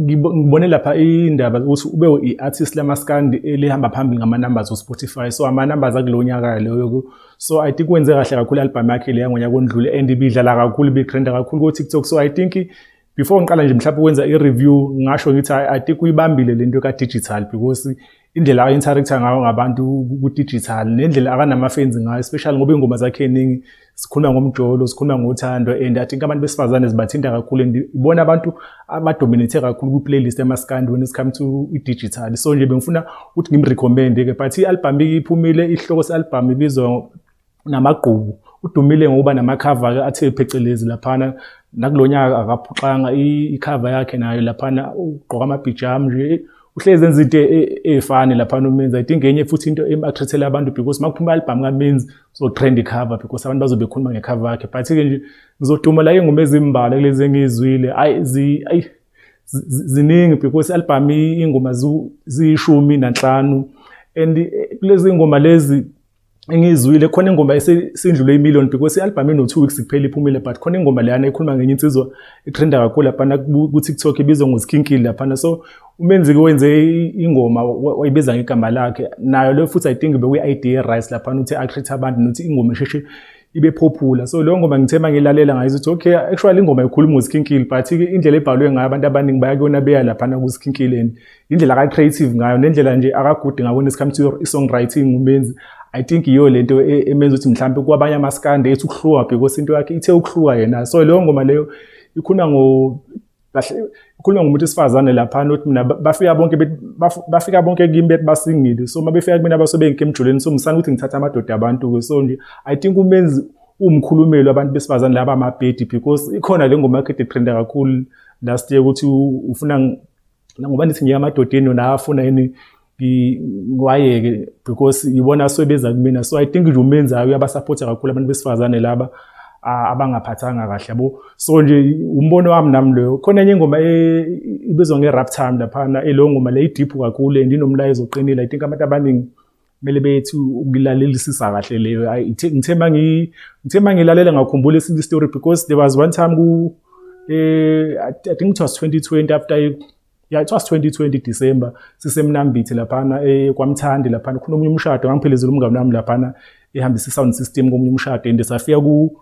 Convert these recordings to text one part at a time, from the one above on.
ngibone lapha indaba ukuthi ube i-artist lamaskandi elihamba phambili ngama-numbers o-spotify so ama-numbers akulo nyaka leyo so i think wenze kahle kakhulu i-album yakhe leya ngonyaka ondlule and ibidlala kakhulu ibigrenda kakhulu ko-tiktok so i think before ngiqala nje mhlawumbe ukwenza i-review ngasho ngithi i think uyibambile le nto ka-digital because indlela a-interact-a ngayo ngabantu ku-digital nendlela akanama-fans ngayo especially ngoba iy'ngoma zakhe ey'ningi sikhuluma ngomjolo sikhuluma ngothando and i think abantu besifazane zibathinta kakhulu and ibona abantu abadominate kakhulu kwi-playlist yamaskandi when it come to i-digital so nje bengifuna ukuthi ngimrecommende-ke but i-albhamu iphumile isihloko se-albhamu ibizwa namagqubu udumile ngokuba namakhava ke athe phecelezi laphana nakulonyaka akaphuxanga ikhava yakhe nayo laphana ugqoka amabhijam nje uhlezi enza into efani laphana umenzi i think enye futhi into emathrethela abantu because makuphuma album kamenzi so trend cover because abantu bazobe khuluma ngekhava yakhe but ke nje ngizoduma la ingoma ezimbala kulezi engizwile ayi zi ayi ziningi because album ingoma ziyishumi nanhlanu and eh, kulezi ngoma lezi engiyizwile khona ingoma esindlule imillion because i-albhamu ino-two weeks kuphela iphumile but khona ingoma leyana ekhuluma ngenye insizwa etrenda kakhulu laphana ku-tiktok ibizwa ngozikhinkili laphana so umenziki wenze ingoma wayibiza ngegama lakhe nayo leyo futhi i think bekuyi-idea rice laphana ukuthi acreate abantu nokuthi ingoma isheshe ibe popular so leyo ngoma ngithema ngilalela ngayizo ukuthi okay actually ingoma ikhuluma ngozikhinkili but indlela ebhalwe ngayo abantu abaningi bayakuyona beya laphana kuzikhinkileni indlela aka-creative ngayo nendlela nje akagudi ngayo when it comes to i-songwriting umenzi i think yiyo le nto e, emenza ukuthi mhlawumbe kwabanye amaskande ethi ukuhluka because into yakhe ithe ukuhluka yena so leyo ngoma leyo ikhuluma ngo kahle ikhuluma ngomuntu esifazane lapha not mina bafika bonke bafika bonke kimi bethi basingile so uma befika kumina basobe ngike emjuleni so ngisana ukuthi ngithatha amadoda abantu ke so nje i think umenzi umkhulumeli wabantu besifazane laba amabhedi because ikhona le ngoma yakhe etrenda kakhulu last year ukuthi ufuna ngoba nithi ngiye amadodeni yona afuna yini ngiwayeke because yibona asuke beza kumina so i think nje umenzayo uyabasapotha kakhulu abantu besifazane laba abangaphathanga kahle yabo so nje umbono wami nami loyo khona enye ingoma e, ibizwa nge-rap time laphana elo ngoma le idiphu kakhulu and inomlayezo oqinile i think abantu abaningi kumele bethi ukulalelisisa kahle leyo ngithe ngithe mangilalele ngakhumbula esinye story because there was one time ku eh i think it was 2020 after yeah it was 2020 December sisemnambithi laphana eh kwamthandi laphana khona omunye umshado ngangiphelezela umngane wami laphana ehambisa sound system komunye umshado and safika ku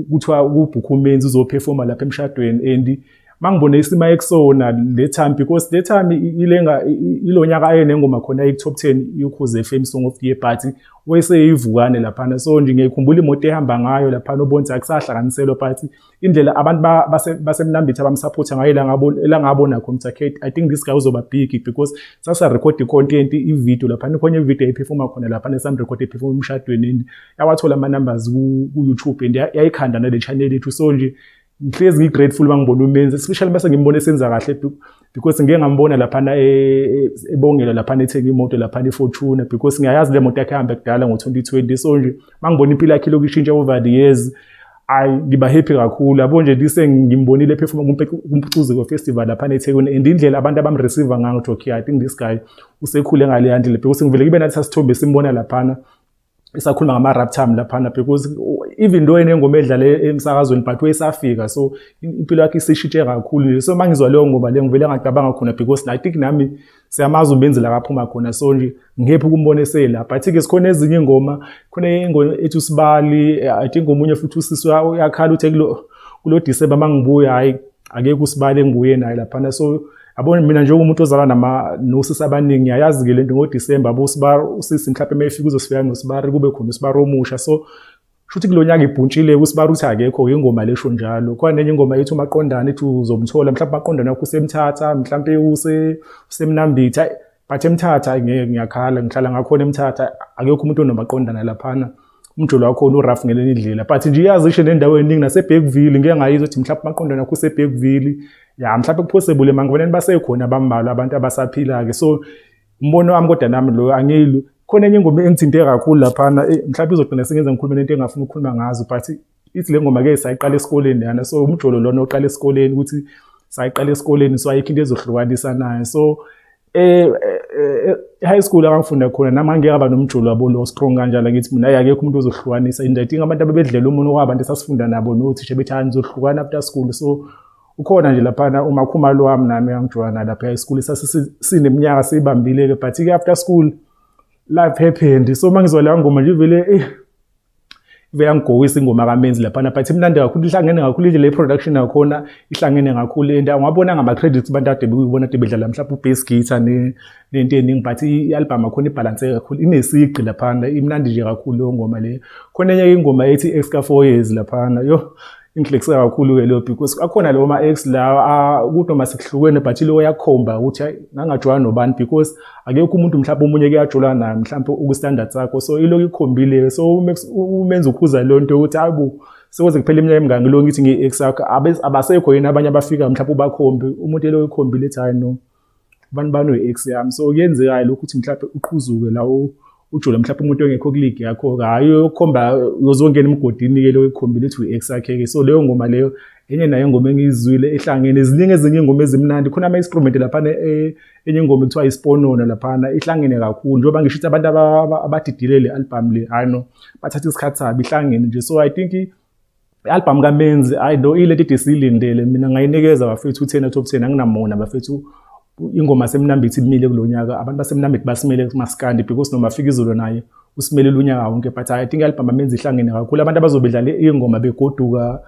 kuthiwa ukubhukha umenzi uzophefoma lapha emshadweni and mangibone isima ekusona le time because le time ilenga ilonyaka ayenengoma khona eku top 10 yokhuze FM song of the year party weseyivukane lapha so nje ngiyikhumbula imoto ehamba ngayo lapha nobonzi akusahlanganiselwa party indlela abantu basemnambithi abamsupporta ngayo langabo langabona khona ukuthi i think this guy uzoba big because sasa record content i video lapha khona i video ephefuma khona lapha nesam record ephefuma umshadweni yawathola ama numbers ku, ku YouTube and yayikhanda nale channel yethu so nje ngihlezi ngi grateful bangibona umenzi especially base ngimbone senza kahle because ngeke ngambona lapha na e, ebongela lapha ethenga imoto lapha ne Fortuna because ngiyayazi le moto yakhe hamba kudala ngo 2020 so nje mangibona impilo yakhe lokushintsha over the years ayi ngiba happy kakhulu yabo nje lise ngimbonile perform kumpucuzeko festival lapha eThekwini and indlela abantu abamreceive ngayo ukuthi okay i think this guy usekhule ngale handle because ngivele ngibe nathi sasithombe simbona laphana isakhuluma ngama rap time laphana because even though enengoma edlala emsakazweni but wayesafika so impilo yakhe isishintshe kakhulu so mangizwa leyo ngoma le ngivele ngacabanga khona because i think nami siyamazi ubenzi la kaphuma khona so nje ngephi ukumbona esela but ke sikhona ezinye ingoma khona ingoma ethi usibali i think omunye futhi usisi uyakhala uthe kulo kulo December mangibuya hayi akekho usibali enguye naye laphana so Yabona mina njengomuntu ozalwa nama nosisi abaningi ngiyayazi ke lento ngoDecember bo sibar usisi mhlawumbe mayifika uzosifika ngosibari kube khona usibari omusha so shuthi kulonyaka ibhuntshile usibari uthi akekho ke ingoma lesho njalo kwanenye ingoma ethi umaqondana ethi uzomthola mhlawumbe maqondana yakho usemthatha mhlawumbe use usemnambitha but emthatha ngeke ngiyakhala ngihlala ngakhona emthatha akekho umuntu onobaqondana laphana umjolo wakhona urough ngelenye indlela but nje iyazi ishe nendawo eningi naseBergville ngeke ngayizwa ukuthi mhlawumbe amaqondana akho useBergville ya mhlawumbe kuphosebule mangifanele basekhona abambalwa abantu abasaphila-ke so umbono wami kodwa nami loyo angiyilo khona enye ingoma engithinte kakhulu laphana eh, mhlawumbe izogcina sengenza ngikhulume nento engafuni ukukhuluma ngazo but ithi le ngoma ke sayiqala esikoleni yana so umjolo lona oqala esikoleni ukuthi sayiqala esikoleni so ayikho into ezohlukanisa nayo so eh, eh, eh high school abangifunda khona nami angeke aba nomjolo wabo lo strong kanjalo ngithi mina hayi akekho umuntu ozohlukanisa into i think abantu abebedlela umuntu kwabantu esasifunda nabo nothisha bethi hayi nizohlukana after school so ukhona nje laphana uma khuma lo wami nami angijwana lapha high school sasineminyaka siyibambile ke but ke after school life happened so mangizwa la ngoma nje vele eh Veyangigowisa ingoma kaMenzi laphana but imnandi kakhulu ihlangene kakhulu indlela i-production yakhona ihlangene kakhulu and angwabona ngama-credits abantu ade bekuyibona ade bedlala mhlawumbe u-bass guitar nento eningi but i-album akhona ibhalanse kakhulu inesigqi laphana imnandi nje kakhulu leyo ngoma leyo khona enye ingoma ethi extra four years laphana yo Inhlekisa kakhulu-ke leyo because akhona lewo ma-ex lawa ukuthi noma sekuhlukene but ileyo yakhomba ukuthi hayi ngangajwayana nobani because akekho umuntu mhlawumbe omunye kuyajula naye mhlawumbe ukustandard sakho so ilokhu ikhombile so umenza ukhuza leyo nto yokuthi hayi bo sekweze kuphela iminyaka emingaki ngilokhu ngithi ngiyi-ex yakho abasekho yini abanye abafika mhlawumbe ubakhombi umuntu eloyo ikhombile ethi hayi no abantu banoyi-ex yami so kuyenzekayo lokhu ukuthi mhlawumbe uqhuzuke lawo ujule mhlawumbe umuntu ongekho kuligi yakho hhayi uyokhomba uzongena emgodini-ke lo ekhombile ukuthi uyi-ex yakhe-ke so leyo ngoma leyo enye nayo ingoma engiyizwile ehlangene ziningi ezinye ingoma ezimnandi khona ama-instrument laphana eh, enye ingoma ekuthiwa isiponono laphana ihlangene kakhulu njengoba ngisho ukuthi abantu abadidile le albhamu le hhayi no bathatha isikhathi sabo ihlangene nje so i think I-albhamu kaMenzi ayi lo ilento ide siyilindele mina ngayinikeza bafethu u-ten out of ten anginamona bafethu ingoma semnambithi imile kulo nyaka abantu basemnambithi basimele kumaskandi because noma afika izolo naye usimelele unyaka wonke but i think i-albhamu amenzi ihlangene kakhulu abantu abazobe dlale iy'ngoma begoduka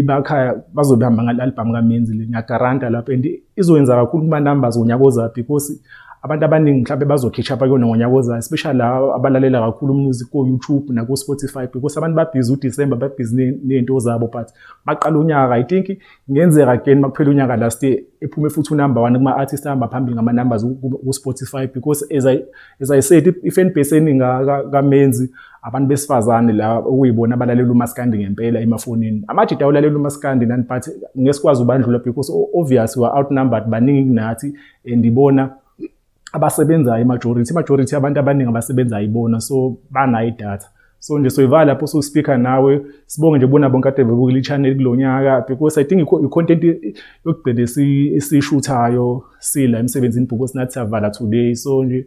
bakhaya bazobe hamba ngale-albhamu kamenzi le ngiyagaranta lapho and izoyenza kakhulu kuma numbers ngonyaka ozayo because abantu abaningi mhlawumbe bazokhitsha apha kuyona ngonyaka ozayo especially laba abalalela kakhulu umusic ko-youtube nako-spotify because abantu babhizi udisemba babhizi ney'nto zabo but baqala unyaka i think kungenzeka again uma kuphela unyaka last year ephume futhi unumber one kuma-artist ahamba phambili ngama-numbers ku-spotify because as i, as I said i-fan base eningi kamenzi abantu besifazane la okuyibona abalalela umaskandi ngempela emafonini amajita awulalela umaskandi nani but ngesikwazi ubandlula because obvious we are outnumbered baningi kunathi and ibona abasebenzayo imajority imajority abantu abaningi abasebenzayo ibona so banayo idatha so nje soyivala lapho ususpeaker nawe sibonge nje bona bonke ade bebukile ichannel kulonyaka because i think icontent yokugcina esishuthayo sila emsebenzini because nathi savala today so nje